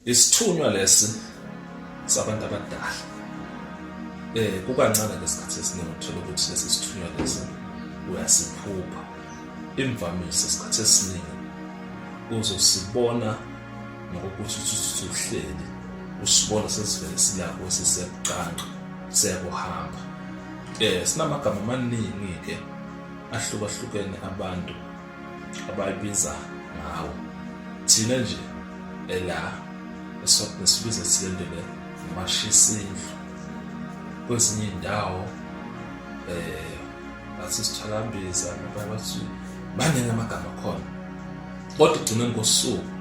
Isithunywa lesi sabantu abadala. Eh kukancane lesikhathi esiningi uthola ukuthi lesi sithunywa lesi uyasiphupha. Imvamisa isikhathi esiningi uzosibona ngokuthi usuhleli usibona sesivele silapho siseqanqa siyakuhamba. Eh sinamagama amaningi ke ahlukahlukene abantu abayibiza ngawo thina nje ela eswatini sibiza silendele amashisindlu kwezinye iy'ndawo um eh, bathi sithalambiza nabanye bathi baningi amagama akhona kodwa ekugcineni kosuku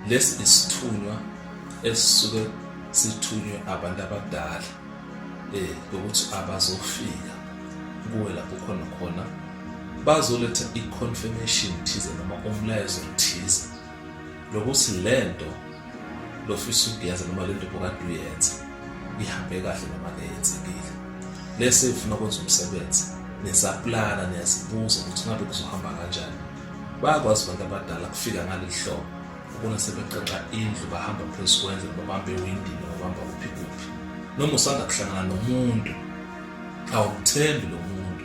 lesi isithunywa esisuke sithunywe abantu abadala um eh, ukuthi abazofika kuwe lapho khona khona bazoletha i-confirmation thize noma umlayezo thize lokuthi le nto lofisa ukuyenza noma le nto bokade uyenza ihambe kahle noma keyenzekile lese ifuna ukwenza umsebenzi nisaplana niyazibuza ukuthi ngabe kuzohamba kanjani bayakwazi abantu abadala kufika ngaleli hlobo ubona sebeqeqa indlu bahamba phezu kwendlu babambe ewindini babamba kuphi kuphi noma usanda kuhlangana nomuntu awumthembi lo muntu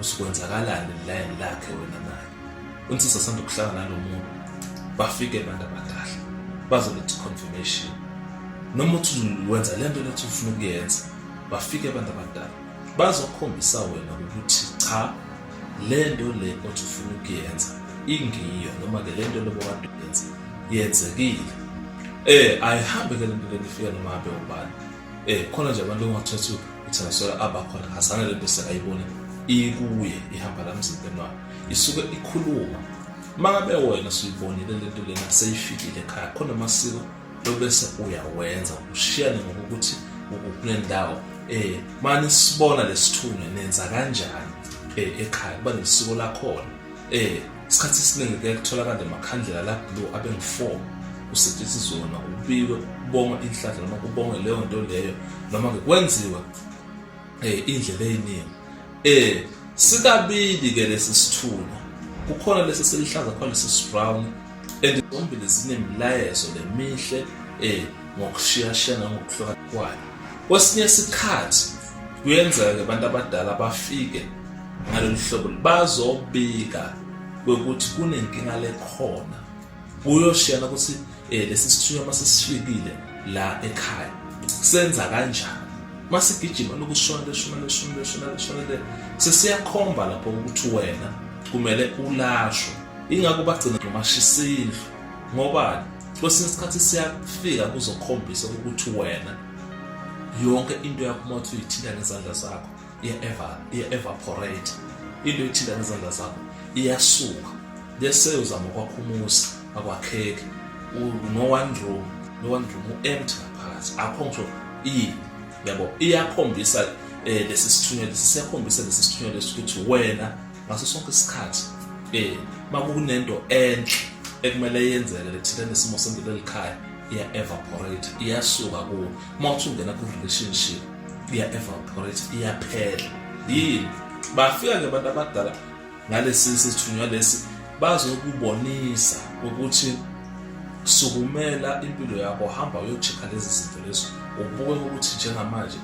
usukwenzakalani lilayini lakhe wena naye unsisi asanda kuhlala nalo muntu bafike abantu abadala bazoletha i-confirmation noma uthi wenza le nto lethi ufuna ukuyenza bafike abantu abadala bazokhombisa wena ukuthi cha le nto le othi ufuna ukuyenza ingiyo noma-ke le nto lobo kade uyenza yenzekile um ayihambe ke le nto le nifike noma abe ubani eh khona nje abantu ongathathu uthengiselwa abakhona azana le bese ayibone ikuye ihamba la mzimbeni wakhe isuke ikhuluma mangabe wena suyibonile le nto lena seyifikile ekhaya khona amasiko lobese uyawenza ushiyane ngokuthi ukule ndawo eh mani sibona lesithunywa nenza kanjani eh ekhaya kuba nesiko lakhona eh Isikhathi esiningi kuyaye kutholakale amakhandlela la blue abengu-four kusetshenziswe wona kubikwe kubongwe inhlanhla noma kubongwe leyo nto leyo noma-ke kwenziwe um eh, indlela eyiningi um eh, sikabili-ke lesi sithuna kukhona lesi selihlaza khona lesi sibrown and zombili zinemilayezo lemihle um eh, ngokushiyashiyana ngokuhluka kwayo kwesinye isikhathi kuyenzeka-ke abantu abadala bafike ngalolu hlobo bazobika kwekuthi kunenkinga lekhona kuyoshiyana ukuthi eh lesi sithunywa masisifikile la ekhaya senza kanjani masigijima lokushona leshona leshona leshona leshona le sesiyakhomba lapho ukuthi wena kumele ulashwe ingakho bagcina ngomashisa indlu ngoba kwesinye isikhathi siyafika kuzokhombisa ukuthi wena yonke into yakho uma uthi uyithinta ngezandla zakho iya-evaporate into ethinta ngezandla zakho iyasuka bese uzama ukwakha umuzi akwakheki no-one room no-one room u-empty ngaphakathi akho ngisho ini yabo iyakhombisa eh lesi sithunywa lesi siyakhombisa lesi sithunywa lesi ukuthi wena ngaso sonke isikhathi eh makunento enhle ekumele yenzeke lethina nesimo sempilo elikhaya iya evaporate iyasuka kuwo uma uthi ungena ku relationship iya evaporate iyaphela yini bafika ke abantu abadala ngalesi sithunywa lesi bazokubonisa ukuthi sukumela impilo yakho hamba uyocheka lezi zinto lezo ubuke ukuthi njengamanje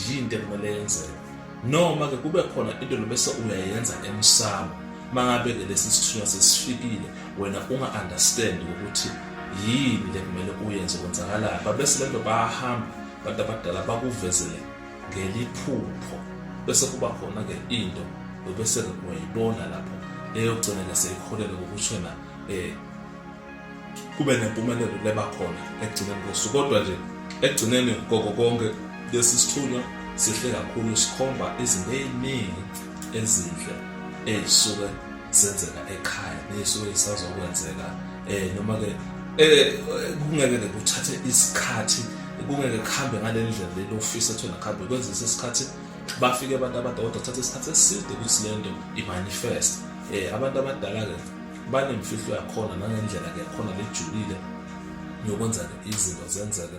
yinto ekumele yenzeke noma ke kube khona into lobese uyayenza emsamo mangabe ke lesi sithunywa sesifikile wena unga understand ukuthi yini lekumele uyenze kwenzakalapha bese lento bahamba abantu abadala bakuvezele ngeliphupho bese kuba khona-ke into bese-ke uyayibona lapho eyogcina-ke seyiholele ngokushena um eh, kube nempumelelo leba khona ekugcineni kosuku kodwa nje ekugcineni koko konke lesi sithunywa sihle kakhulu sikhomba izinto ey'ningi ezinhle ey'suke senzeka ekhaya nesuke isazokwenzeka eh noma ke eh kungeke ke kuthathe isikhathi kungeke kuhambe ngalendlela lelo ofisa ethu nakhambe kwenzisa isikhathi bafike abantu abadala kuthatha isikhathi eside ukuthi lento imanifest eh abantu abadala ke banemfihlo yakhona nangendlela ke yakhona lejulile yokwenza izinto zenzeke